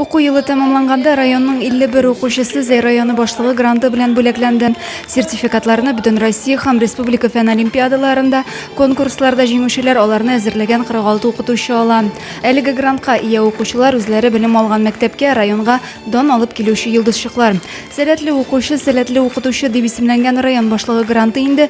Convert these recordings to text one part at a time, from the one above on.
Уку елы тәмамланганда районның 51 укучысы Зәй районы башлыгы гранты белән бүләкләнде. Сертификатларны бөтен Россия һәм республика фән олимпиадаларында, конкурсларда җиңүчеләр аларны әзерләгән 46 укытучы ала. Әлеге грантка ия укучылар үзләре белем алган мәктәпкә, районга дан алып килүче йолдызчыклар. Сәләтле укучы, сәләтле укытучы дип исемләнгән район башлыгы гранты инде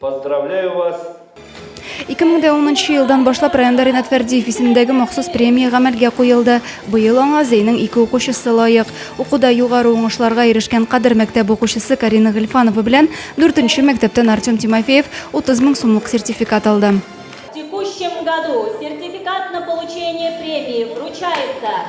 Поздравляю вас! 2010 нчы елдан башлап районда Ренат Фәрдиев исемендәге махсус премия гамәлгә куелды. Быел аңа Зәйнең ике укучысы лаек. Укуда югары уңышларга ирешкән Кадер мәктәбе укучысы Карина Гыйльфанова белән дүртенче мәктәптән Артем Тимофеев 30 мең сумлык сертификат алды. В текущем году сертификат на получение премии вручается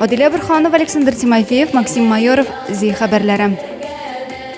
Адилә Борханова, Александр Тимофеев, Максим Майоров, Зи хәбәрләре.